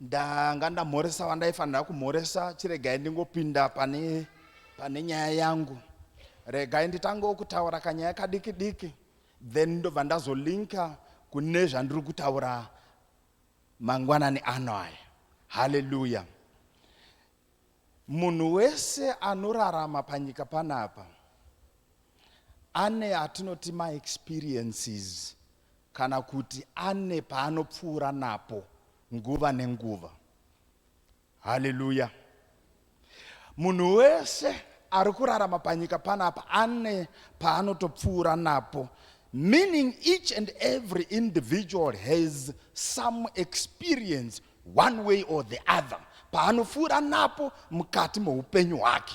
ndanga ndamhoresa wandaifanira kumhoresa chiregai ndingopinda pane pane nyaya yangu regai nditangewo kutaura kanyaya kadiki diki then ndobva ndazolinka kune zvandiri kutaura mangwanani ano aya haleluya munhu wese anorarama panyika panapa ane atinoti maexperiences kana kuti ane paanopfuura napo nguva nenguva haleluya munhu wese ari kurarama panyika panapa ane paanotopfuura napo meaning each and every individual has some experience one way or the other paanopfuura napo mukati meupenyu hwake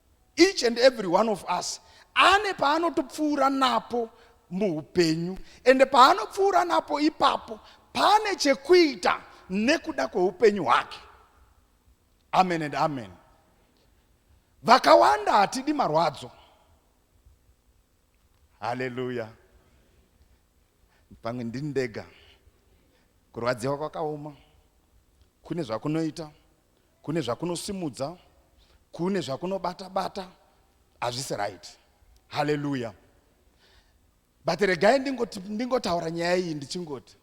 Each and every one of us ane paanotopfuura napo muupenyu ende paanopfuura napo ipapo pane chekuita nekuda kweupenyu hwake amen and amen vakawanda hatidi marwadzo haleluya pamwe ndini ndega kurwadziwa kwakaoma kune zvakunoita kune zvakunosimudza kune zvakunobata bata hazvisi right haleluya but regai ndingotaura nyaya iyi ndichingoti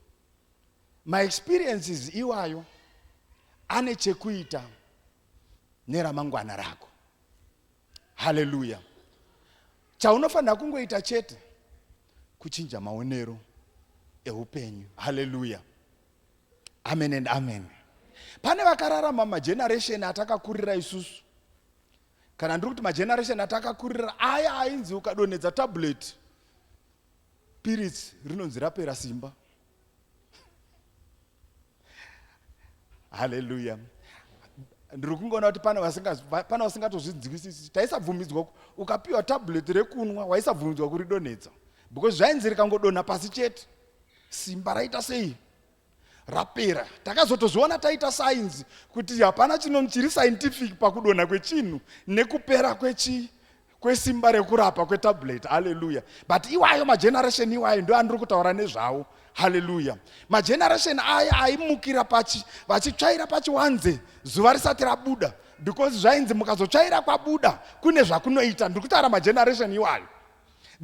maexperiences iwayo ane chekuita neramangwana rako haleluya chaunofanira kungoita chete kuchinja maonero eupenyu haleluya amen and amen pane vakararama mageneration atakakurira isusu kana ndiri kuti mageneration atakakurira aya ainzi ukadonhedza tablet piritsi rinonzi rapera simba haleluya ndiri kungoona kuti pane vasingatozvinzwisisi taisabvumidzwa ukapiwa tablet rekunwa waisabvumidzwa kuridonhedza because zvainzi rikangodonha pasi chete simba raita sei rapera takazotozviona taita sainzi kuti hapana chinhu chiri scientific pakudonha kwechinhu nekupera kwechi kwesimba rekurapa kwetablet haleluya but iwayo mageneration iwayo ndo andiri kutaura nezvawo haleluya mageneration aya aimukira pachi vachitsvaira pachiwanze zuva risati rabuda because zvainzi mukazotsvaira kwabuda kune zvakunoita ndiri kutaura mageneration iwayo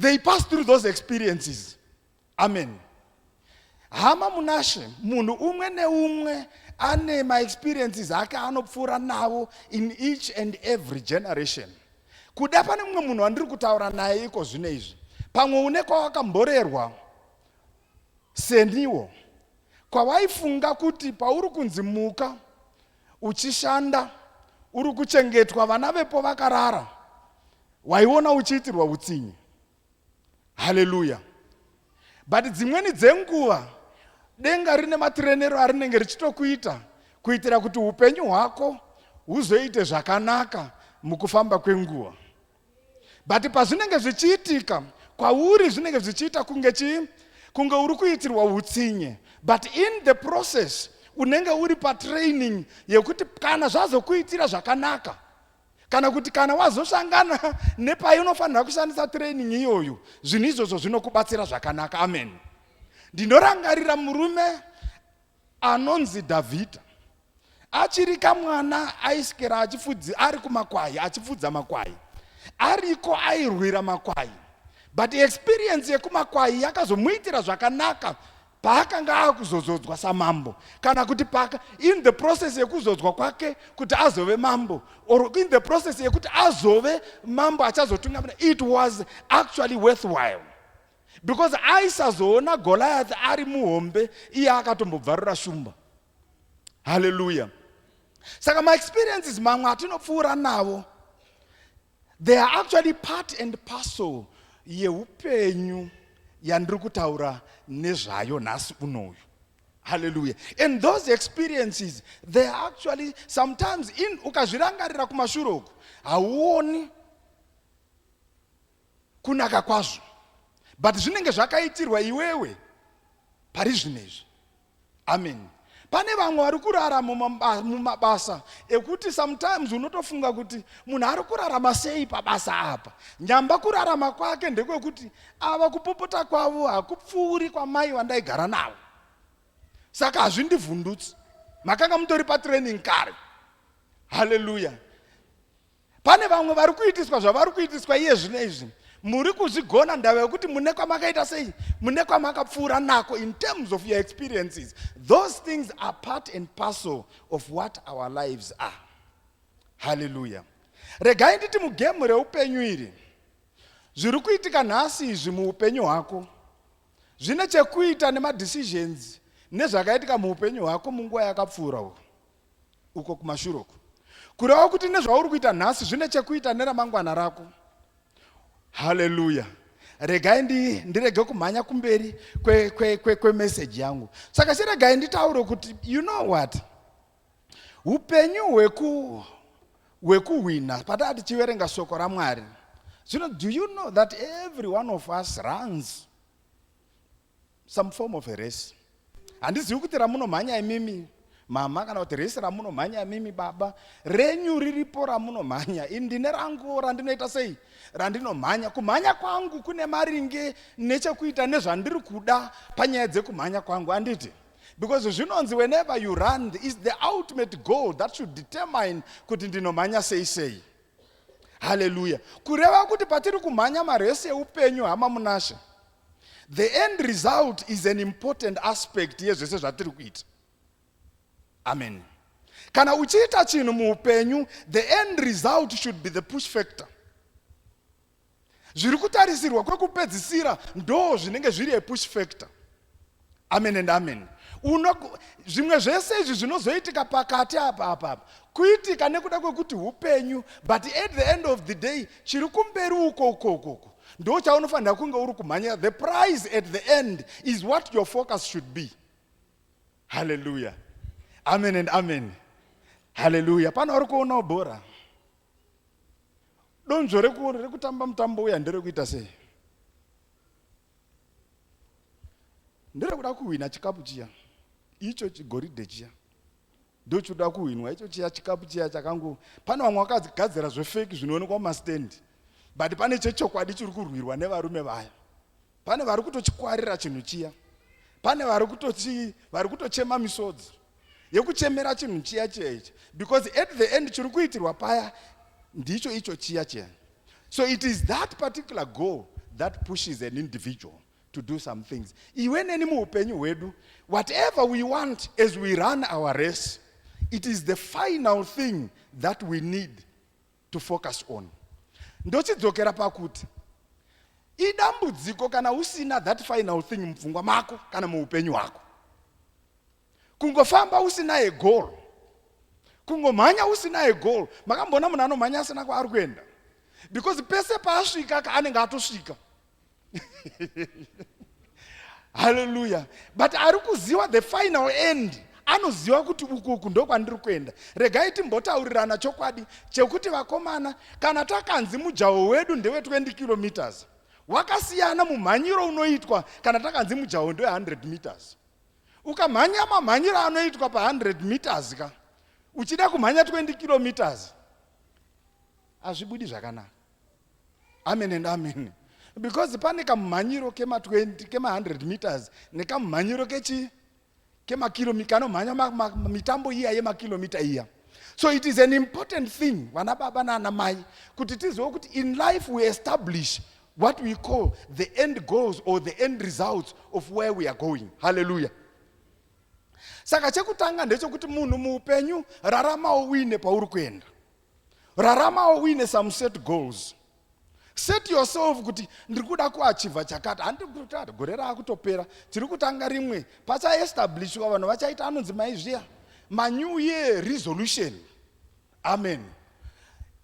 they pass through those experiences amen hama munashe munhu umwe neumwe ane maexperiences ake anopfuura navo in each and every generation kuda pane mumwe munhu wandiri kutaura naye iko zvino izvi pamwe une kwawakamborerwa seniwo kwawaifunga kuti pauri kunzi muka uchishanda uri kuchengetwa vana vepo vakarara waiona uchiitirwa utsinye haleluya but dzimweni dzenguva denga rine matirenero arinenge richitokuita kuitira kuti upenyu hwako huzoite zvakanaka mukufamba kwenguva but pazvinenge zvichiitika kwauri zvinenge zvichiita kunge chii kunge uri kuitirwa utsinye but in the process unenge uri patraining yekuti kana zvazokuitira zvakanaka kana kuti kana wazosangana nepainofanira kushandisa training iyoyo zvinhu izvozvo zvinokubatsira zvakanaka amen ndinorangarira murume anonzi dhavhidha achiri kamwana aiskera achifudzi ari kumakwai achifudza makwai ariko airwira makwai but experience yekumakwai yakazomuitira zvakanaka paakanga akuzozodzwa samambo kana kuti paka in the process yekuzodzwa kwake kuti azove mambo or in the process yekuti azove mambo achazotungamira it was actually worthwhile because aisazoona goliath ari muhombe iye akatombobvarura shumba haleluya saka maexperiences mamwe atinopfuura navo They are actually part and parcel yehupenyu yandiri kutaura nezvayo nhasi unoyu haleluya and those experiences they are actually sometimes in ukazvirangarira kumashure uku hauoni kunaka kwazvo but zvinenge zvakaitirwa iwewe pari zvino izvi Amen. Pane vamwe vari kurara mumabasa ekuti sometimes unotofunga kuti munhu ari kurarama sei pabasa apa. Nyamba kurarama kwake ndekwekuti ava kupopota kwavo hakupfuuri kwamai vandaigara navo. Saka hazvindivhundutsi. Makanga mutori patraining kare. Hallelujah. Pane vamwe vari kuitiswa zvavari kuitiswa iye zvino izvi. Muri kuzvigona ndava yokuti mune kwamakaita sei, mune kwamakapfuura nako in terms of your experiences. Those things are part and parcel of what our lives are. Hallelujah. Regai nditi mugemu reupenyu iri, zviri kuitika nhasi izvi muupenyu hwako zvine chekuita nemadecisions nezvakaitika muupenyu hwako munguva yakapfuura uku. uko kumashure uko. Kureva kuti nezvauri kuita nhasi zvine chekuita neramangwana rako. Haleluya. Regai ndi, ndirege kumhanya kumberi kwemeseji kwe, kwe, kwe yangu. Saka chiregai nditaure kuti you know what? Upenyu hweku hwekuhwina pataa tichiverenga shoko ramwari zvino do you know that every one of us runs some form of a race handizivi kuti ramunomhanya imimi mama kana kuti resi ramunomhanya imimi baba renyu riripo ramunomhanya ini ndine rangu randinoita sei randinomhanya kumhanya kwangu kune maringe nechekuita nezvandiri kuda panyaya dzekumhanya kwangu anditi because zvinonzi whenever you run is the ultimate goal that should determine kuti ndinomhanya sei sei haleluya kureva kuti patiri kumhanya maresi eupenyu hama munashe The end result is an important aspect yezvese zvatiri kuita. Amen. Kana uchiita chinhu muupenyu, the end result should be the push factor. Zviri kutarisirwa kwekupedzisira ndo zvinenge zviri a push factor. amen and amen uno zvimwe zvese izvi zvinozoitika pakati apa apa apa kuitika nekuda kwekuti upenyu but at the end of the day chiri kumberi uko uko uko uko ndo chaunofanira kunge uri kumhanyira the prize at the end is what your focus should be halleluya amen and amen halleluya pano uri kuonawo bhora donzvo rekutamba mutambo uya nderekuita sei ndirikuda kuhwina chikapu chiya icho chigoridhe chiya ndochirikuda kuhwinwa icho chiya chikapu chiya chakangu pane vamwe vakagadzira zvefeki zvinoonekwa mumastendi but pane chechokwadi chiri kurwirwa nevarume vaya pane vari kutochikwarira chinhu chiya pane vari kutochi vari kutochema misodzi yekuchemera chinhu chiya chiya ichi because at the end chiri kuitirwa paya ndicho icho chiya chiya So it is that particular goal that pushes an individual to do some things. Iwe neni muupenyu hwedu, whatever we want as we run our race, it is the final thing that we need to focus on. Ndochidzokera pakuti idambudziko kana usina that final thing mupfungwa mako kana muupenyu hwako. kungofamba usinaye goal kungomhanya usinaye goal makamboona munhu anomhanya asina kwaari kuenda because pese paasvika ka anenge atosvika haleluya but ari kuziva the final end anoziva kuti ukuku ndokwandiri kuenda regai timbotaurirana chokwadi chekuti vakomana kana takanzi mujaho wedu ndewe 20 kilometers wakasiyana mumhanyiro unoitwa kana takanzi mujaho ndewe 100 meters ukamhanya mamhanyiro anoitwa pa 100 meters ka uchida kumhanya 20 kilometers hazvibudi zvakanaka amen and amen because pane kamumhanyiro kema 20 kema 100 meters nekamumhanyiro kechi kemakilomita kanomhanya mitambo iya yemakilomita iya so it is an important thing vana baba nana mai kuti tizive kuti in life we establish what we call the end goals or the end results of where we are going halleluya saka chekutanga ndechokuti munhu muupenyu raramawo uine pauri kuenda raramawo uine some set goals set yourself kuti ndiri kuda kuachivha chakati handiri kuti ati gore raakutopera tiri kutanga rimwe pachaestablishwa vanhu vachaita anonzi maizviya manew year resolution Amen.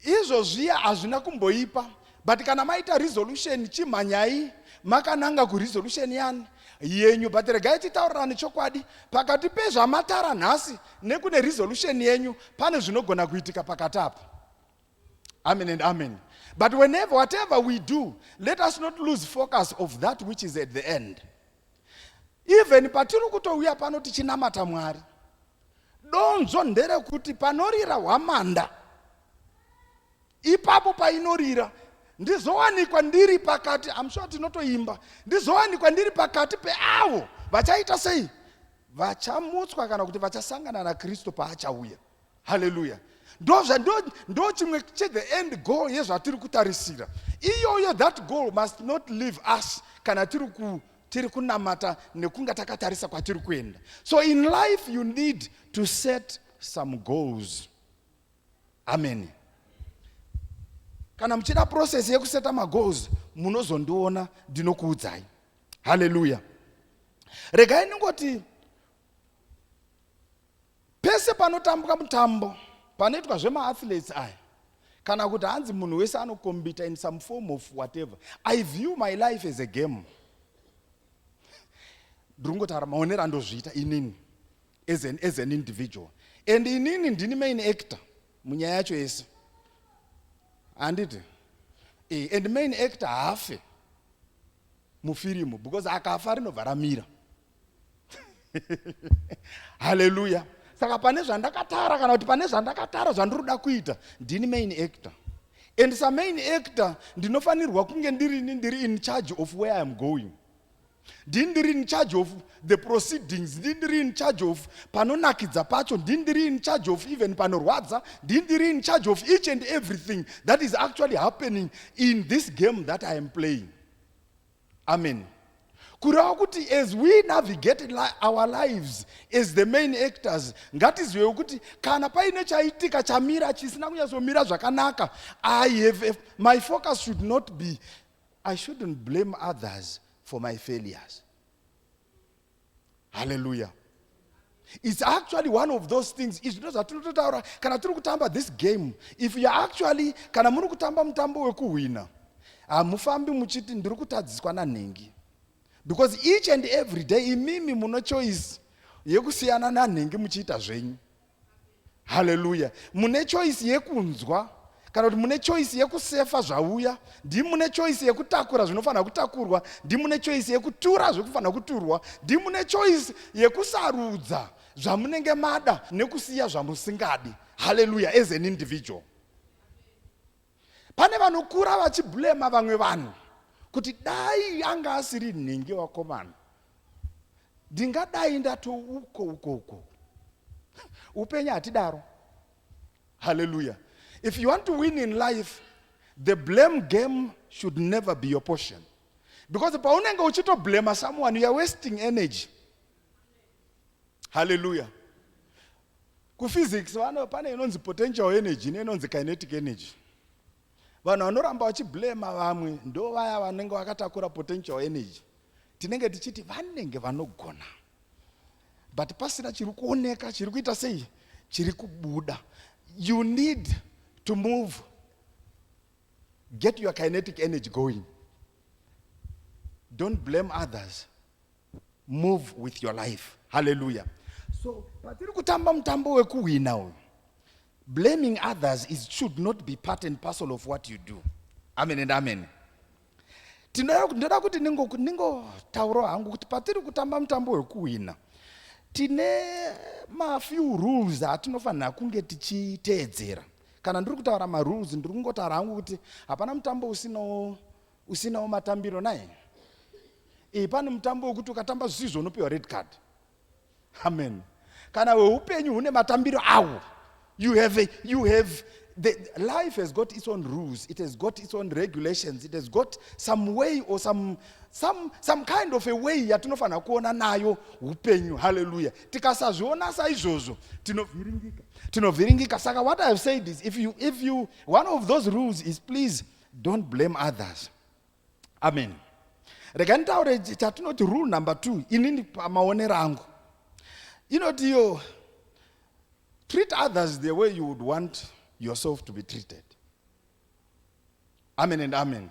Izvo zviya hazvina kumboipa but kana maita resolution chimhanyai makananga kuresolution yani yenyu but regai titaurirane chokwadi pakati pezvamatara nhasi nekune resolution yenyu pane zvinogona kuitika pakati apo amen and amen but whenever whatever we do let us not lose focus of that which is at the end even patiri kutouya pano tichinamata mwari Donzvo nderekuti panorira hwamanda ipapo painorira ndizowanikwa ndiri pakati I'm sure tinotoimba ndizowanikwa ndiri pakati peavo vachaita sei vachamutswa kana kuti vachasangana naKristu paachauya haleluya ndozva ndo chimwe che the end goal yezvatiri kutarisira iyoyo that goal must not leave us kana tiri tiri kunamata nekunga takatarisa kwatiri kuenda so in life you need to set some goals amen kana muchida process yekuseta magoals munozondiona ndinokuudzai haleluya regai ndingoti pese panotambwa mutambo panoitwa zvemaathletes aya kana kuti hanzi munhu wese anokombita in some form of whatever i view my life as a game ndiri kungotaura maonero andozviita inini as an, as an individual and inini ndini main actor munyaya yacho yese handiti e, and main actor haafe mufirimu because akafa rinobva ramira haleluya saka pane zvandakatara kana kuti pane zvandakatara zvandiri kuda kuita ndini main actor and samain actor ndinofanirwa kunge ndirini ndiri in charge of where iam going ndini ndiri in charge of the proceedings ndini ndiri in charge of panonakidza pacho ndini ndiri in charge of even panorwadza ndini ndiri in charge of each and everything that is actually happening in this game that i am playing Amen. Kureva kuti as we navigate li our lives as the main actors, ngatizivewo kuti kana paine chaitika chamira chisina kunyatsomira zvakanaka, I have a, my focus should not be, I shouldn't blame others for my failures. haleluya its actually one of those things izvi ndo zvatinototaura kana tiri kutamba this game if you actually kana muri kutamba mutambo wekuhwina hamufambi muchiti ndiri kutadziswa nanhingi because each and every day imimi muno choice yekusiyana nanhingi muchiita zvenyu haleluya mune choisi yekunzwa kana kuti mune choisi yekusefa zvauya ndii mune choisi yekutakura zvinofanira kutakurwa ndii mune choisi yekutura zvekufanira kuturwa ndii mune choisi yekusarudza zvamunenge mada nekusiya zvamusingadi haleluya as an individual Pane vanokura vachibulema vamwe vanhu kuti dai anga asiri nhingi wakomana ndingadai ndatouko uko uko upenyu hatidaro haleluya if you want to win in life the blame game should never be your portion because paunenge uchitoblema someone youare wasting energy haleluya kuphysics vano pane inonzi potential energy neinonzi kinetic energy vanhu vanoramba vachiblema vamwe ndo vaya vanenge vakatakura potential energy tinenge tichiti vanenge vanogona but pasina chiri kuoneka chiri kuita sei chiri kubuda you need to move get your kinetic energy going don't blame others move with your life haleluya so patiri kutamba mutambo wekuhwina uyu blaming others is should not be part and parcel of what you do amen and amen ndinoda kuti ningotaurawo hangu kuti patiri kutamba mutambo wekuhwina tine mafew rules atinofanira kunge tichiteedzera kana ndiri kutaura marules ndiri kungotaura hangu kuti hapana mutambo usino usinawo matambiro naye iyi pane mutambo wekuti ukatamba zvisizvo unopiwa red card amen kana weupenyu hune matambiro awo you have, a, you have the life has got its own rules it has got its own regulations it has got some way or some, some, some kind of a way yatinofanira kuona nayo upenyu halleluya tikasazviona saizvozvo tinovhiringika tinovhiringika saka what i have said is if you, if you one of those rules is please Don't blame others. Amen. Rega nitaure chatinoti rule number two inini pamaonero angu inoti iyo treat others the way you would want yourself to be treated. Amen and amen.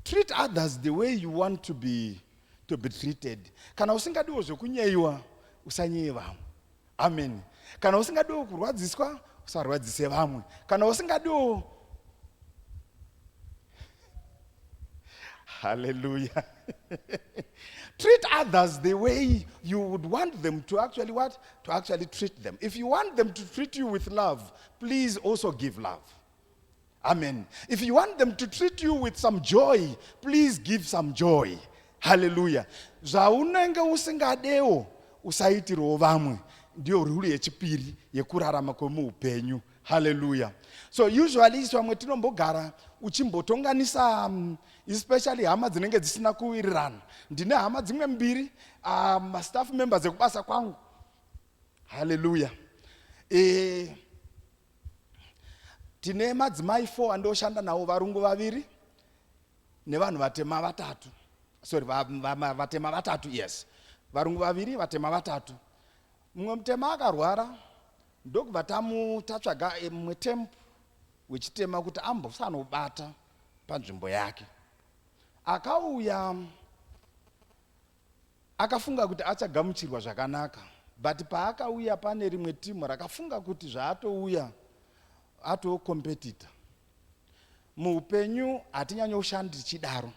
Treat others the way you want to be, to be treated. Kana usingadiwo zvekunyeyiwa usanyeye vamwe. amen kana usingadiwo kurwadziswa usarwadzise vamwe kana usingadiwo haleluya treat others the way you would want them to actually what to actually treat them if you want them to treat you with love please also give love Amen. If you want them to treat you with some joy, please give some joy. Hallelujah. Zvaunenge usingadewo usaitirawo vamwe ndiyo ruri yechipiri yekurarama kwemuupenyu. Hallelujah. So usually isu vamwe tinombogara uchimbotonganisa um, especially hama dzinenge dzisina kuwirirana. Ndine hama dzimwe mbiri um, mastaff members ekubasa kwangu. Hallelujah. Eh, tine madzimai four andioshanda nawo varungu vaviri nevanhu vatema vatatu sorry vatema vatatu yes varungu vaviri vatema vatatu mumwe mutema akarwara ndokubva tamutatsvaga eh, mumwe temp wechitema kuti ambosanobata panzvimbo yake akauya Akafunga kuti achagamuchirwa zvakanaka but paakauya pane rimwe team rakafunga kuti zvaatouya atoo competitor. Muupenyu hatinyanyoshandi tichidaro.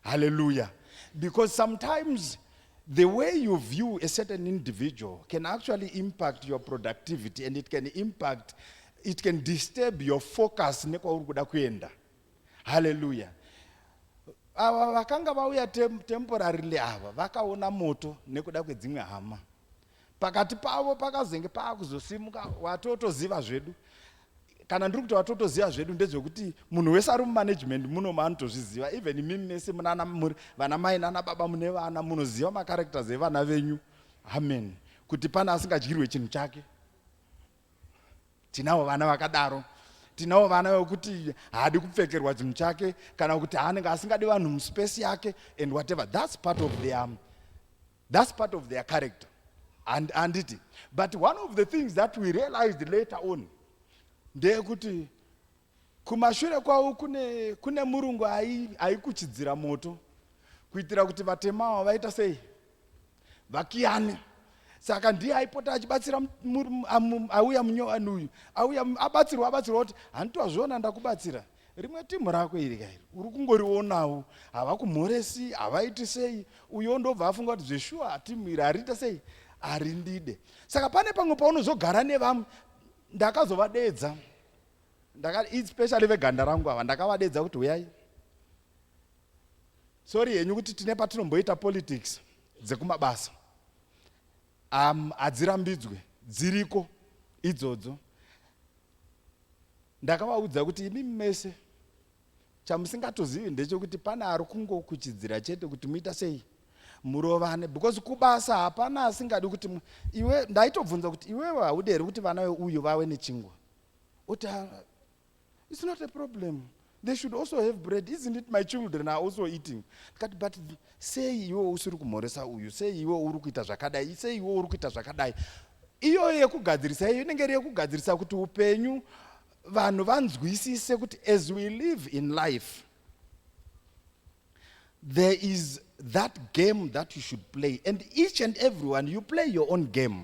Hallelujah. Because sometimes the way you view a certain individual can actually impact your productivity and it can impact, it can disturb your focus nekwauri kuda kuenda. haleluya ava vakanga vauya tem, temporarily ava vakaona moto nekuda kwedzimwe hama pakati pavo pakazenge paakuzosimuka watotoziva zvedu kana ndiri kuti watotoziva zvedu ndezvekuti munhu wese ari mumanagement muno maanotozviziva even imimi mese munana vana mai nana baba mune vana munoziva macharacters evana venyu amen kuti pane asingadyirwe chinhu chake tinawo vana vakadaro tinawo vana vekuti haadi kupfekerwa chinhu chake kana kuti haanenge asingadi vanhu muspesi yake and whatever thats part of their thats part of their character and anditi but one of the things that we realized later on ndeyekuti Kumashure kwavo kune, kune murungu aikuchidzira moto kuitira kuti vatema ava vaita sei vakiyane saka ndiye aipota achibatsira auya munyowani uyu auya abatsirwa abatsirwa kuti hanti wazviona ndakubatsira rimwe timhu rako iri kairi uri kungorionawo havakumhoresi havaiti sei uyo ndobva afunga kuti zveshuwa timhu iri hariita sei harindide saka pane pamwe paunozogara nevamwe ndakazovadeedza ndakati especially veganda rangu ava ndakavadedza kuti huyai sori henyu kuti tine patinomboita politics dzekumabasa um, hadzirambidzwe dziriko idzodzo ndakavaudza kuti imi mese chamusingatozivi ndechekuti pane ari kungokuchidzira chete kuti muita sei murovane because kubasa hapana asingadi kuti iwe ndaitobvunza kuti iwewe haude here kuti vana veuyu vave nechingwa oti ah, it's not a problem they should also have bread isn't it my children are also eating ndikati but sei iwe usiri kumhoresa uyu sei iwe uri kuita zvakadai sei iwe uri kuita zvakadai iyoyo yekugadzirisa iyo inenge iri yekugadzirisa kuti upenyu vanhu vanzwisise kuti as we live in life there is that game that you should play and each and everyone you play your own game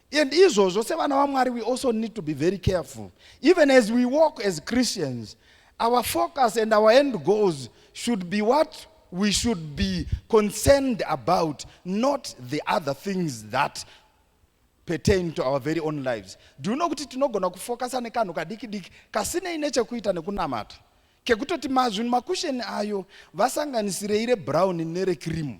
And izvozvo sevana vaMwari we also need to be very careful. Even as we walk as Christians, our focus and our end goals should be what we should be concerned about, not the other things that pertain to our very own lives. Do you know kuti tinogona kufokasa nekanhu kadiki diki kasinei nechekuita nekunamata kekutoti mazvinhu makusheni ayo vasanganisirei rebrown nerekrimu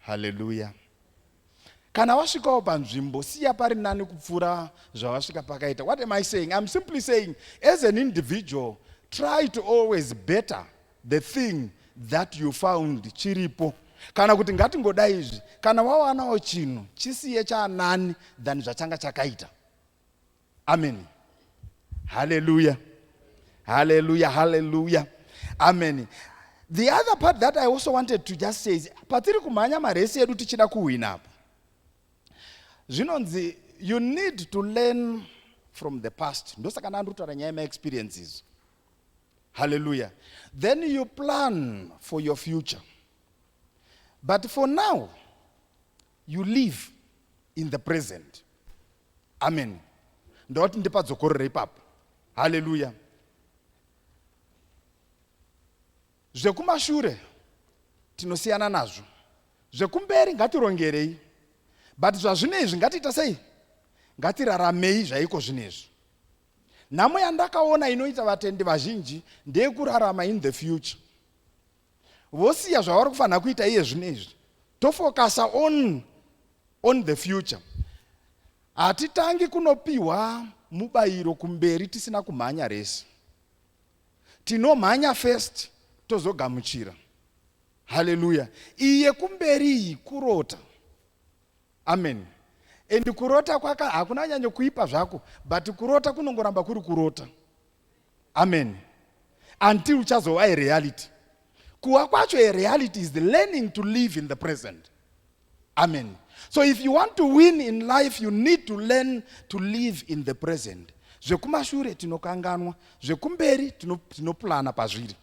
haleluya kana wasvikawo panzvimbo siya pari nani kupfuura zvawasvika pakaita what am i saying iam simply saying as an individual try to always better the thing that you found chiripo kana kuti ngatingodai izvi kana wawanawo chinhu chisiye chanani than zvachanga chakaita ameni haleluya haleluya haleluya ameni the other part that i also wanted to just say is patiri kumhanya maresi edu tichida kuhwina apo zvinonzi you need to learn from the past ndosaka ndandiri kutaura nyaya yemaexperiences haleluya then you plan for your future but for now You live in the present. Amen. Ndawati ndipadzokorera ipapo. Hallelujah. Zvekumashure tinosiyana nazvo. Zvekumberi ngatirongerei. But zvazvinezvi ngatiita sei? Ngatiraramei zvaiko zvinezvi. Nhamo yandakaona inoita vatendi vazhinji ndeyekurarama in the future. vosiya zvavari kufanira kuita iye zvino izvi tofokasa on on the future hatitangi kunopiwa mubayiro kumberi tisina kumhanya rese tinomhanya first tozogamuchira haleluya iye kumberi iyi kurota amen and kurota kwaka hakuna nyanyo kuipa zvako but kurota kunongoramba kuri kurota Amen. Until uchazova a reality. Kuwa kwacho a reality is the learning to live in the present. Amen. So if you want to win in life, you need to learn to live in the present. Zvekumashure tinokanganwa, zvekumberi tinoplana pazviri.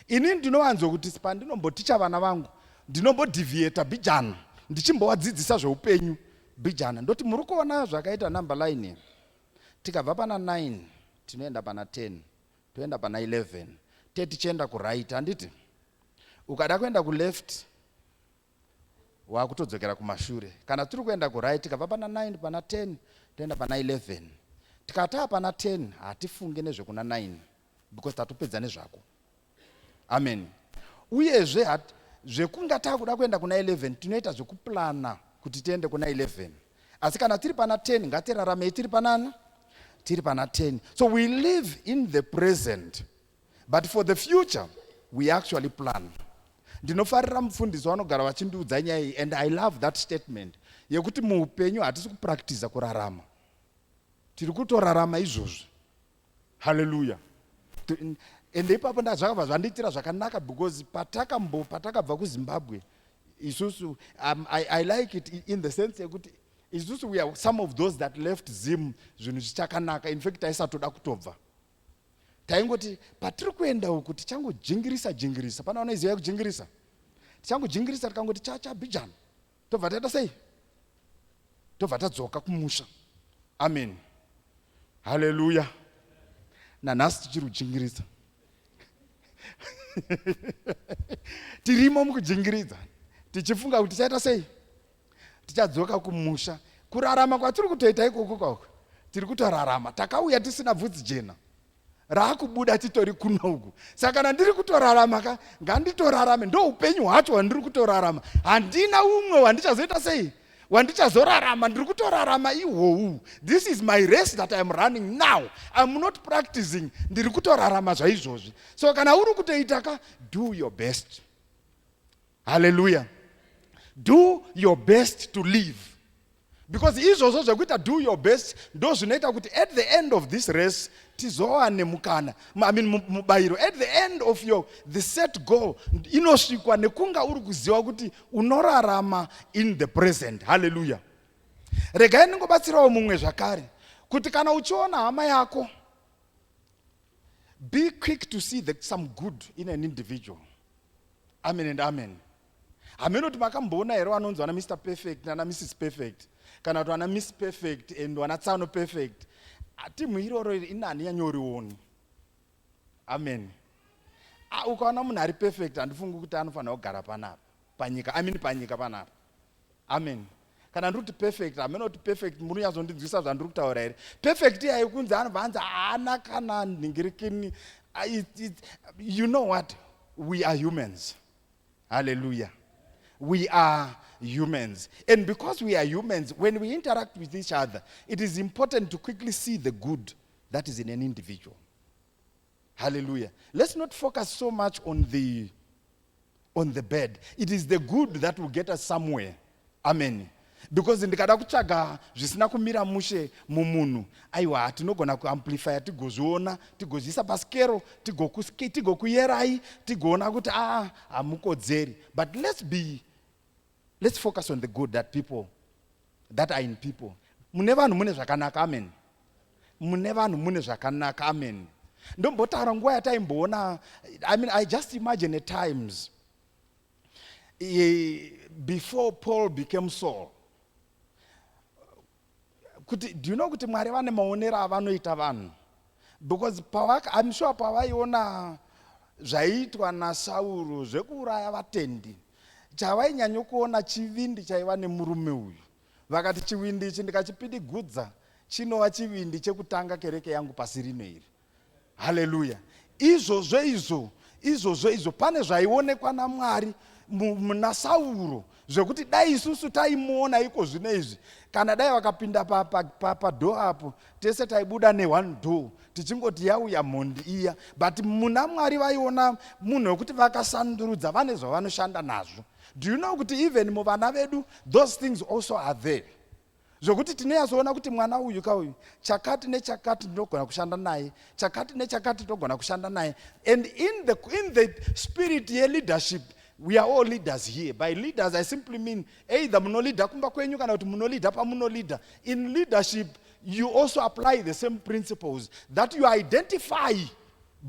Ini ndinowanzo kuti pandinomboticha vana vangu, ndinombodhivieta bijana, ndichimbowadzidzisa zveupenyu bijana. Ndoti muri kuona zvakaita number line here? Tikabva pana nine tinoenda pana ten toenda pana eleven te tichienda kuright handiti? Ukada kuenda kuleft wakutodzokera kumashure. Kana tiri kuenda kuright tikabva pana nine pana ten toenda pana eleven. Tikataa pana ten hatifunge nezvekuna nine because tatopedza nezvako. ameni uyezve hat zvekunga takuda kuenda kuna 11 tinoita zvekuplana kuti tiende kuna 11 asi kana tiri pana 10 ngatiraramei tiri panani tiri pana 10 so we live in the present but for the future we actually plan ndinofarira mufundisi vanogara vachindiudza nyaya iyi and i love that statement yekuti muupenyu hatisi kupractiza kurarama tiri kutorarama izvozvi haleluya ende ipapo zvakabva zvandiitira zvakanaka because patakambo patakabva kuzimbabwe isusu um, I, i like it in the sense yekuti isusu we are some of those that left zim zvinhu zvichakanaka in fact taisatoda kutobva taingoti patiri kuenda uku tichangojingirisa jingirisa pana vanoiziva yekujingirisa tichangojingirisa tikangoti chachabhijana tobva taita sei tobva tadzoka kumusha amen haleluya nanhasi tichiri kujingiridza tirimo mukujingiridza tichifunga kuti tichaita sei tichadzoka kumusha kurarama kwatiri kutoita ikoko kwako tiri kutorarama takauya tisina bvudzi jena raakubuda titori kuno uku saka kana ndiri kutorarama ka nganditorarame ndo upenyu hwacho hwandiri kutorarama handina umwe wandichazoita sei wandichazorarama ndiri kutorarama ihwowu this is my race that iam running now iam not practicing ndiri kutorarama zvaizvozvi so kana uri kutoita ka do your best haleluya do your best to live because izvozvo zvekuita do your best ndo zvinoita kuti at the end of this race tizowane mukana i mean mubayiro at the end of your the set goal inosvikwa nekunga uri kuziva kuti unorarama in the present haleluya regai ndingobatsirawo mumwe zvakare kuti kana uchiona hama yako Be quick to see the, some good in an individual. Amen and amen. Hameno kuti makamboona here vanonzi vana Mr Perfect nana Mrs Perfect kana kuti vana Miss Perfect and vana Tsano Perfect. Timhu iroro iri inani yanyorioni. Amen. Ah, ukaona munhu ari perfect handifungi kuti anofanira kugara panapa panyika amini panyika panapa amen kana ndiri kuti perfect hameno kuti perfect munonyazondinzwisa zvandiri kutaura here perfect iyayo kunzi anobva anzi haana kana nhingirikini ah, you know what we are humans halleluya we are humans and because we are humans when we interact with each other it is important to quickly see the good that is in an individual Hallelujah. Let's not focus so much on the on the bed. It is the good that will get us somewhere. Amen. Because ndikada kutsvaga zvisina kumira mushe mumunhu aiwa tinogona kuamplifya tigozviona tigozviisa paskero tigokuyerai tigoona kuti a ah, hamukodzeri but let's be let's focus on the good that people that are in people mune vanhu mune zvakanaka amen mune vanhu mune zvakanaka amen ndombotaura nguva yataimboona i mean i just imagine at times e, before paul became saul kuti do you know kuti mwari vane maonero avanoita vanhu Because pavaka, I'm sure pavaiona zvaiitwa naSauro zvekuuraya vatendi, chavainyanyokuona chivindi chaiva nemurume uyu. Vakati chivindi ichi ndikachipidigudza chinova chivindi chekutanga kereke yangu pasi rino iri. Haleluya! Izvozvo izvo, izvozvo izvo, pane zvaionekwa naMwari muna Sauro zvekuti dai isusu taimuona iko zvino izvi kana dai vakapinda padho apo tese taibuda neone do tichingoti yauya mhondi iya but muna mwari vaiona munhu wekuti vakasandurudza vane zvavanoshanda nazvo do you know kuti even muvana vedu those things also are there zvokuti tinoyazoona kuti mwana uyu ka uyu chakati nechakati ndinogona kushanda naye chakati nechakati ndinogona kushanda naye and in the, in the spirit yeleadership we are all leaders here by leaders i simply mean either munolida kumba kwenyu kana kuti munolida pamunolida in leadership you also apply the same principles that you identify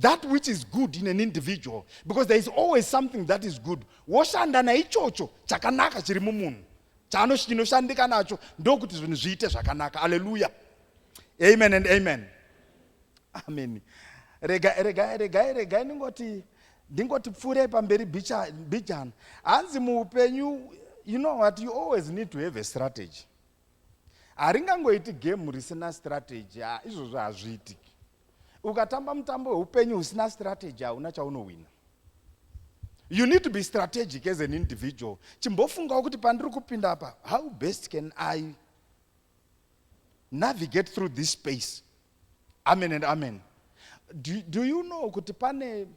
that which is good in an individual because there is always something that is good woshanda naichocho chakanaka chiri mumunhu chaanoshandika nacho ndokuti zvinhu zviite zvakanaka aleluya amen and amen amen regai regai regai regai ndingoti ndingoti pfuurei pamberi bijana hanzi muupenyu you know what you always need to have a strategy haringangoiti game risina strategy izvozvo hazviitiki Ukatamba mutambo weupenyu usina strategy hauna chaunohwina. You need to be strategic as an individual. Chimbofungawo kuti pandiri kupinda apa, how best can I navigate through this space? Amen and amen. Do, do you know kuti pane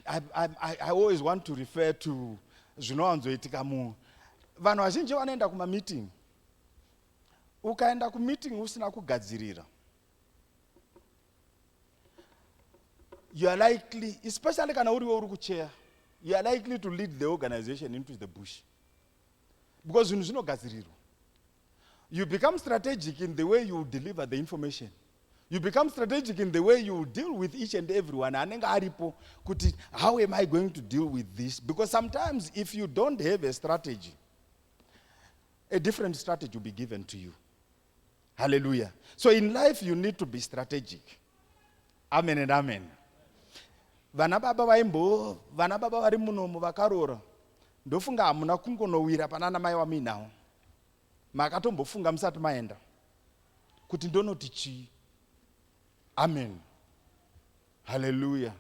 I, I, I, I always want to refer to zvinowanzoitika mu vanhu vazhinji vanoenda kumameeting Ukaenda kumeeting usina kugadzirira you are likely especially kana uriwe uri kucheya you are likely to lead the organization into the bush because zvinhu zvinogadzirirwa you become strategic in the way you deliver the information you become strategic in the way you deal with each and everyone anenge aripo kuti how am i going to deal with this because sometimes if you don't have a strategy a different strategy will be given to you hallelujah so in life you need to be strategic amen and amen vana baba vaimbo vana baba vari munomo vakaroora ndofunga hamuna kungonowira panana mai wamuinawo makatombofunga musati maenda kuti ndonoti chii amen haleluya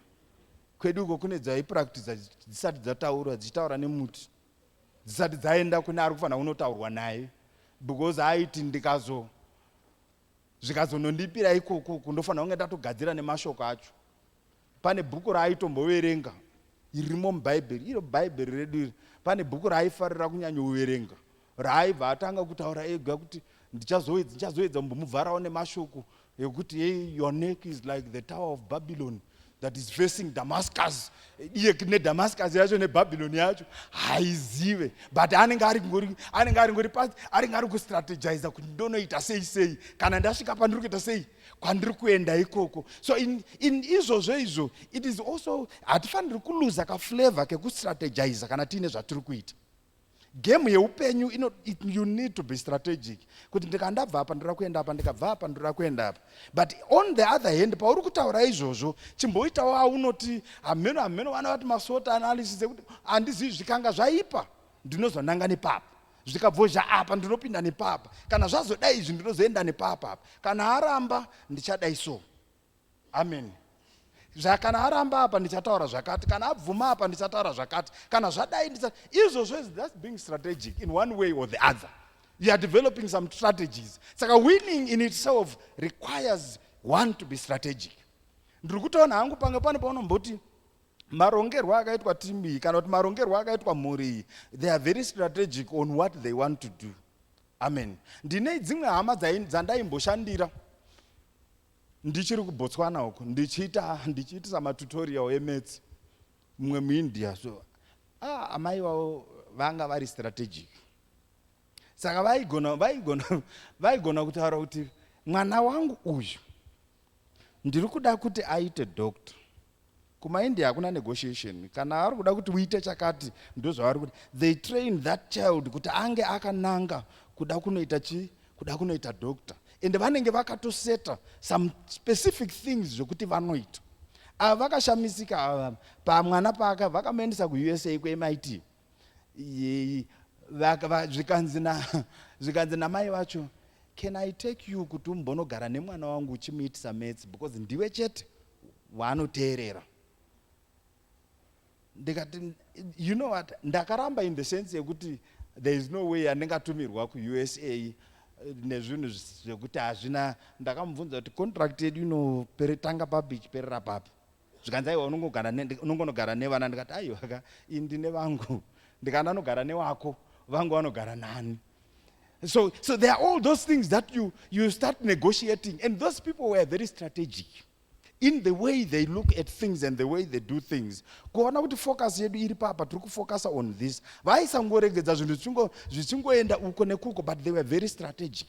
kwedu uko kune dzaipractiza dzisati dzataurwa dzichitaura nemuti dzisati dzaenda kune ari kufanira kunotaurwa naye because aiti ndikazo zvikazonondipira ikoko kundofanira kunge ndatogadzira nemashoko acho pane bhuku raaitomboverenga irimo mubhaibheri iro bhaibheri redu iri pane bhuku raaifarira kunyanyoverenga raaibva atanga kutaura ega kuti ndichazoedza kumbomudzvarawo nemashoko yekuti hey, your neck is like the tower of babylon that is facing damascus iye nedamascus yacho nebabylon yacho haizive but anenge ari ngori anenge ari ngori pasi anenge ari kustrategiza kuti ndonoita sei sei kana ndasvika pandiri kuita sei kwandiri kuenda ikoko so in, in izvozvo izvo it is also hatifaniri kuluza kaflavor kekustrategiza kana tiine zvatiri kuita game yeupenyu ino it, you need to be strategic kuti ndikandabva apa ndoda kuenda apa ndikabva apa ndoda kuenda apa but on the other hand pauri kutaura izvozvo chimboitawo aunoti hameno hameno vana vati masota analysis ekuti handizivi zvikanga zvaipa ndinozonanga nepapa zvikabvozha apa ndinopinda nepapa kana zvazodai izvi ndinozoenda nepapa apa kana aramba ndichadai so Amen. Zva, kana aramba apa ndichataura zvakati, kana abvuma apa ndichataura zvakati, kana zvadai ndicha izvo zvese that's being strategic in one way or the other. You are developing some strategies. Saka winning in itself requires one to be strategic. Ndiri kutoona hangu pange pane paunomboti marongerwo akaitwa timu iyi kana kuti marongerwo akaitwa mhuri iyi they are very strategic on what they want to do amen ndine dzimwe hama dzandaimboshandira ndichiri kubotswana uko ndichiita ndichiitisa matutorial emaths mumwe muindia so ah, amai vavo vanga vari strategic saka vaigona vaigona vaigona kutaura kuti mwana wangu uyu ndiri kuda kuti aite doctor KumaIndia hakuna negotiation. Kana vari kuda kuti uite chakati ndozvavari kuda. They train that child kuti ange akananga kuda kunoita chi kuda kunoita doctor. Ende vanenge vakatoseta some specific things zvekuti vanoita. Ava vakashamisika ava pamwana paka vakamuendesa kuUSA kuMIT. Yei, vaka- va- zvikanzi na zvikanzi namai vacho can i take you kuti umbonogara nemwana wangu uchimuitisa maths because ndiwe chete waanoteerera ndikati you know what ndakaramba in the sense yekuti there is no way yandingatumirwa kuusa eh, nezvinhu zvisi- zvekuti hazvina ndakamubvunza kuti contract yedu inopere tanga papi ichiperera papi zvikanzi aiwa unongogara ne- unongonogara nevana ndikati aiwa ka ini ndine vangu ndikana anogara newako vangu vanogara nani so so there are all those things that you you start negotiating and those people were very strategic in the way they look at things and the way they do things kuona kuti focus yedu iri papa tiri kufocusa on this vaisangoregedza zvinhu zvichingo- zvichingoenda uko nekuko but they were very strategic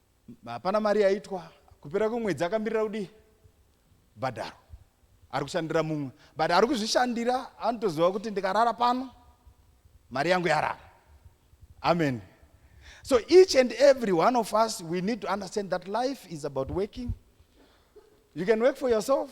hapana mari yaitwa kupera kwemwedzi akamirira kudii bhadharo ari kushandira mumwe but ari kuzvishandira anotoziva kuti ndikarara pano mari yangu yarara amen so each and every one of us we need to understand that life is about working you can work for yourself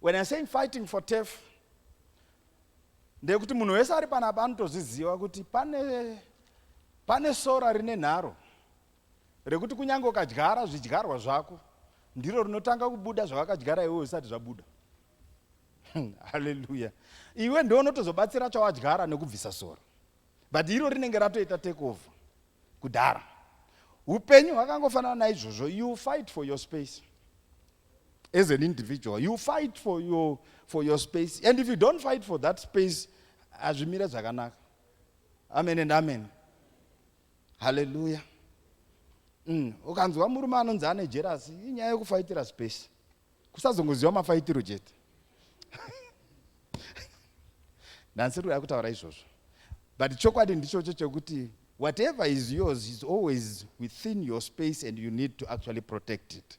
When I saying fighting for turf, ndeyekuti munhu wese ari panapa anotozviziva kuti pane, pane sora rine nharo rekuti kunyange ukadyara zvidyarwa zvako ndiro rinotanga kubuda zvavakadyara iwe usati zvabuda haleluya iwe ndo unotozobatsira chawadyara nekubvisa sora but iro rinenge ratoita take over kudhara upenyu hwakangofanana naizvozvo you fight for your space as an individual you fight for your, for your space and if you don't fight for that space hazvimire zvakanaka amen and amen halleluya mm. ukanzwa murume anonzi ane jerasi inyaya yekufaitira space kusazongoziva mafaitiro chete ndansiri kuda kutaura izvozvo but chokwadi ndichocho chekuti whatever is yours is always within your space and you need to actually protect it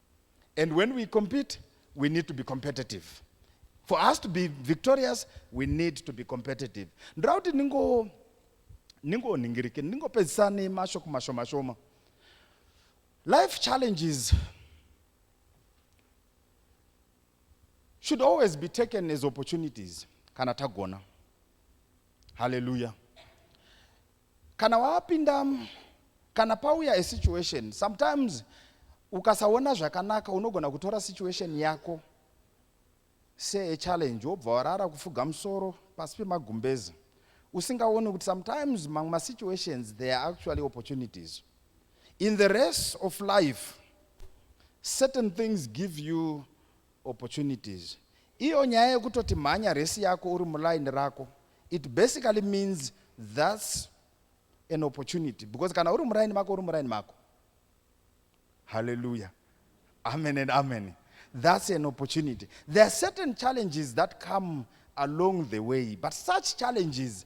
And when we compete, we need to be competitive. For us to be victorious, we need to be competitive. Ndoda kuti ningo ningoningirike ndingopedzisa nemashoko mashoma shoma. Life challenges should always be taken as opportunities kana tagona. Hallelujah. Kana wapinda kana pauya a situation sometimes ukasaona zvakanaka unogona kutora situation yako se a challenge wobva warara kufuga musoro pasi pemagumbezi usingaoni kuti sometimes mamwe masituations they are actually opportunities in the race of life certain things give you opportunities iyo nyaya yekutoti mhanya race yako uri muline rako it basically means thats an opportunity because kana uri muraini mako uri muraini mako halleluya amen and amen thats an opportunity there are certain challenges that come along the way but such challenges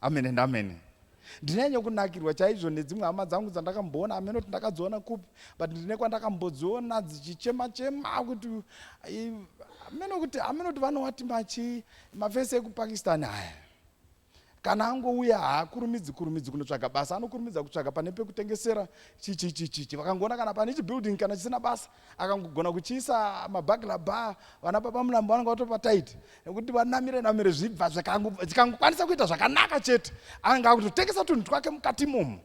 amen and amen ndinenye kunakirwa chaizvo nedzimwe hama dzangu dzandakamboona ameno kuti ndakadziona kupi but ndine kwandakambodziona dzichichema chema kuti ameno kuti ameno kuti vanowati machi mafesi ekupakistan aya kana angouya haakurumidzi kurumidzi kunotsvaga basa anokurumidza kutsvaga pane pekutengesera chichichichichi vakangoona kana pane chibuilding kana chisina basa akangogona kuchiisa mabagla bar vana baba mulambo vanenge vatopa tight nekuti vanamire namire zvibva zvikangokwanisa kuita zvakanaka chete anenge akutotengesa tunhu twake mukati imomo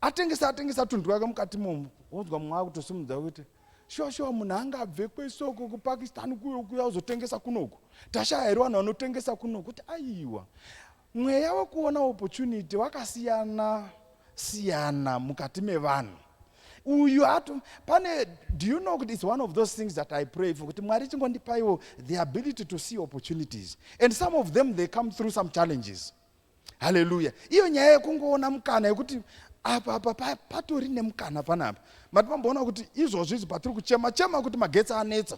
atengesa atengesa tunhu twake mukati imomo wonzwa mumwe akutosimudza kuti shuwa shuwa munhu anga abve kwesoko kupakistan kuyo kuya uzotengesa kunoku tashaya here vanhu vanotengesa kunoku kuti aiwa Mweya wekuona opportunity wakasiyana siyana mukati mevanhu uyu atu pane do you know kuti its one of those things that i pray for kuti mwari chingondipaiwo the ability to see opportunities and some of them they come through some challenges haleluya iyo nyaya yekungoona mukana yekuti apa apa patori nemukana panapa mati pamboona kuti izvozvo izvi patiri kuchema chema kuti magetsi anetsa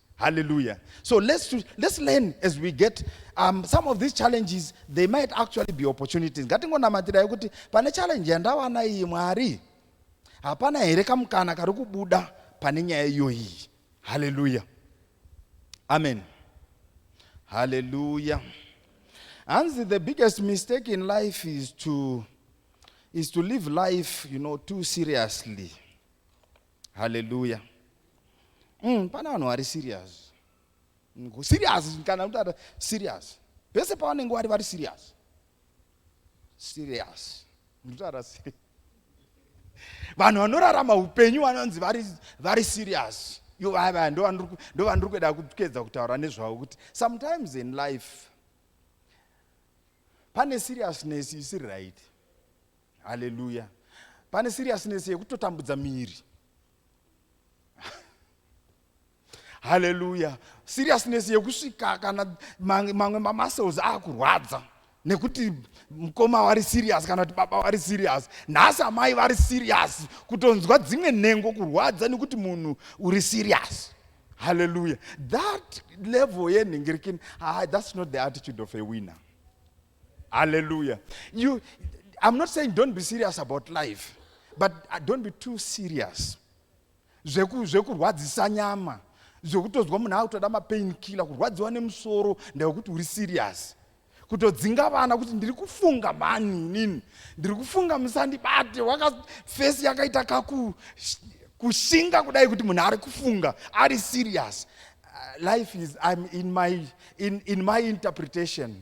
Hallelujah. So let's, let's learn as we get um, some of these challenges, they might actually be opportunities. Ngatingonamatirai kuti pane challenge yandawana iyi Mwari, hapana here kamukana kari kubuda pane nyaya iyoyi. Hallelujah. Amen. Hallelujah. Hanzi the biggest mistake in life is to, is to live life, you know, too seriously. haleluya mm, pana vanhu vari serious serious kana kutata serious vese pavanenge wari vari serious serious ndotara serious vanhu vanorarama upenyu vanonzi vari serious yo vaya vaya ndovandiri kueda kuedza kutaura nezvavo kuti sometimes in life pane seriousness isiri right haleluya pane seriousness yekutotambudza miri haleluya seriousness yekusvika kana mamwe mamuscles akurwadza nekuti mukoma wari serious kana kuti baba wari serious nhasi amai vari serious kutonzwa dzimwe nhengo kurwadza nekuti munhu uri serious haleluya that level yenhengerekeni ah, that's not the attitude of a winner Hallelujah. You, I'm not saying don't be serious about life, but uh, don't be too serious. Zvekurwadzisa nyama, zvekutozwa munhu akutoda mapain killer, kurwadziwa nemusoro ndewekuti uri serious. kutodzinga vana kuti ndiri kufunga mhani inini ndiri kufunga musandibate wakafesi yakaita kaku kushinga kudai kuti munhu ari kufunga ari serious uh, life is I'm in my, in, in my interpretation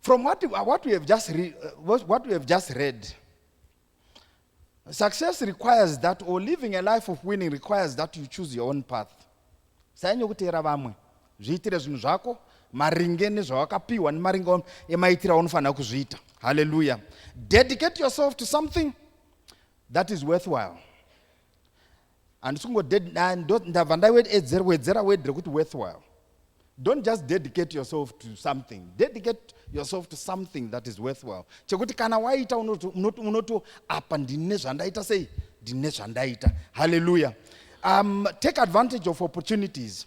From what, uh, what, we have just re, uh, what we have just read, success requires that, or living a life of winning requires that you choose your own path. Sanyanya kuteera vamwe, zviitire zvinhu zvako maringe nezvawakapiwa nemaringe emaitiro aunofanira kuzviita. Hallelujah. Dedicate yourself to something that is worthwhile. handisi kungodndabva ndawedzera wedre kuti worthwhile don't just dedicate yourself to something dedicate yourself to something that is worthwhile chekuti kana waita unoti apa ndine zvandaita sei ndine zvandaita halleluya um, take advantage of opportunities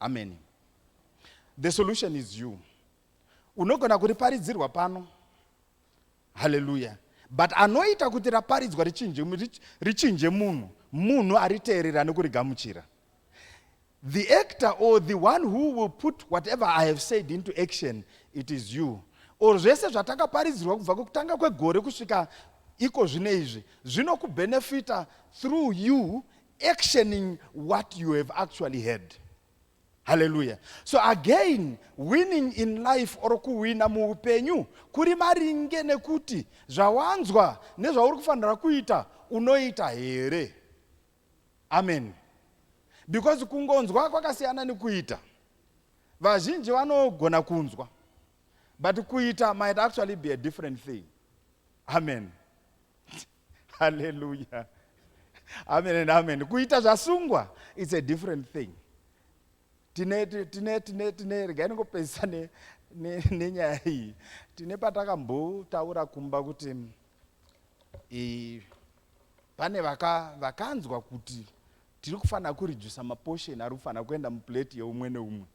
ameni the solution is you unogona kuriparidzirwa pano haleluya but anoita kuti raparidzwa richinje, richinje munhu munhu ariteerera nekurigamuchira the actor or the one who will put whatever i have said into action it is you or zvese zvatakaparidzirwa kubva kukutanga kwegore kusvika iko zvine izvi zvinokubhenefita through you actioning what you have actually heard haleluya so again winning in life or kuhwina muupenyu kuri maringe nekuti zvawanzwa nezvauri kufanira kuita unoita here amen because kungonzwa kwakasiyana nekuita vazhinji vanogona kunzwa but kuita might actually be a different thing amen haleluya amen and amen kuita zvasungwa its a different thing tine tine tine tine regai ningopedzisa nenyaya iyi tine patakambotaura kumba kuti e, pane vaka, vakanzwa kuti tiri kufanira kurijusa maposheni ari kufanira kuenda muplate yeumwe neumwe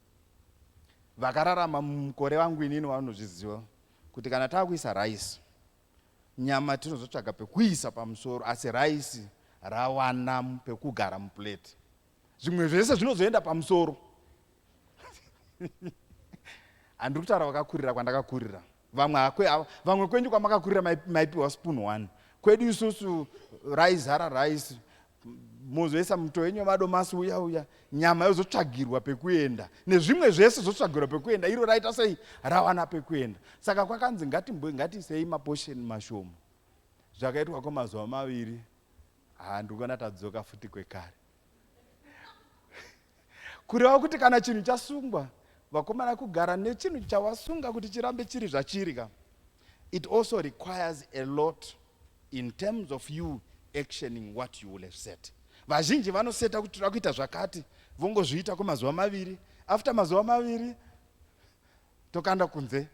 vakararama mukore vangu inini vanozviziva kuti kana tava kuisa rice Nyama tinozotsvaga pekuisa pamusoro asi raisi rawana pekugara muplate. Zvimwe zvese zvinozoenda pamusoro. Handiri kutaura vakakurira kwandakakurira. Vamwe hakwe ava, vamwe kwenyu kwamakakurira maipiwa spoon one. Kwedu isusu raizara rice mozoisa muto wenyu wemadomasi uya uya nyama yozotsvagirwa pekuenda nezvimwe zvese zvotsvagirwa pekuenda iro raita sei rawana pekuenda saka kwakanzi ngatiisei maposheni mashomo zvakaitwa kwemazuva maviri handikona tadzoka futi kwekare kureva kuti kana chinhu chasungwa vakomana kugara nechinhu chawasunga kuti chirambe chiri zvachiri ka it also requires a lot in terms of you actioning what you will have said vazhinji vanoseta kuti toda kuita zvakati vongozviita kwemazuva maviri after mazuva maviri tokanda kunze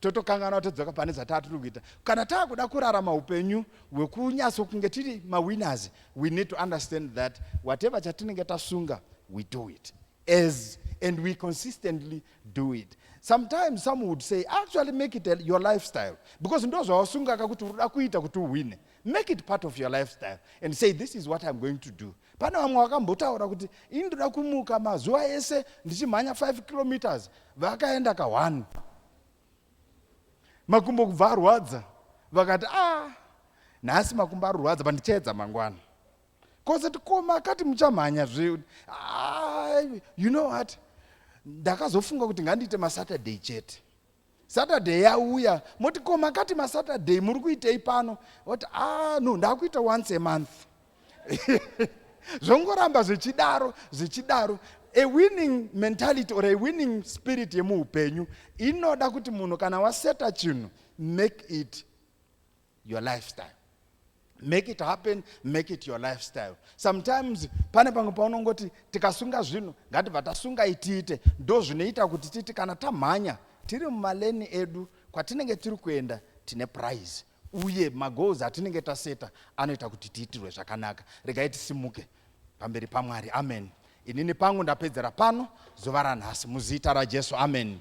totokanganwa todzoka pane zvatatiri kuita kana taakuda kurarama upenyu hwekunyatso kunge tiri mawinners we need to understand that whatever chatinenge tasunga we do it as and we consistently do it sometimes some would say actually make it your lifestyle because ndo zvawasungaka kuti unoda kuita kuti uhwine make it part of your lifestyle and say this is what i'm going to do pane vamwe vakambotaura kuti ini ndoda kumuka mazuva ese ndichimhanya 5 kilometers vakaenda ka 1 makumbo kubva arwadza vakati ah nhasi makumbo arwadza pandichaedza mangwana kosati koma akati muchamhanya zve ah, you know what ndakazofunga kuti ngandiite masaturday chete Saturday yauya moti ko makati masaturday muri kuitei pano oti a ah, no ndakuita once a month zvongoramba zvichidaro zvichidaro a winning mentality or a winning spirit yemuupenyu inoda kuti munhu kana waseta chinhu make it your lifestyle make it happen make it your lifestyle sometimes pane pamwe paunongoti tikasunga zvinhu ngatibva tasunga itiite ndo zvinoita kuti titi kana tamhanya tiri mumaleni edu kwatinenge tiri kuenda tine prize uye magoals atinenge taseta anoita kuti tiitirwe zvakanaka regai tisimuke pamberi pamwari amen inini pangu ndapedzera pano zuva ranhasi muzita rajesu amen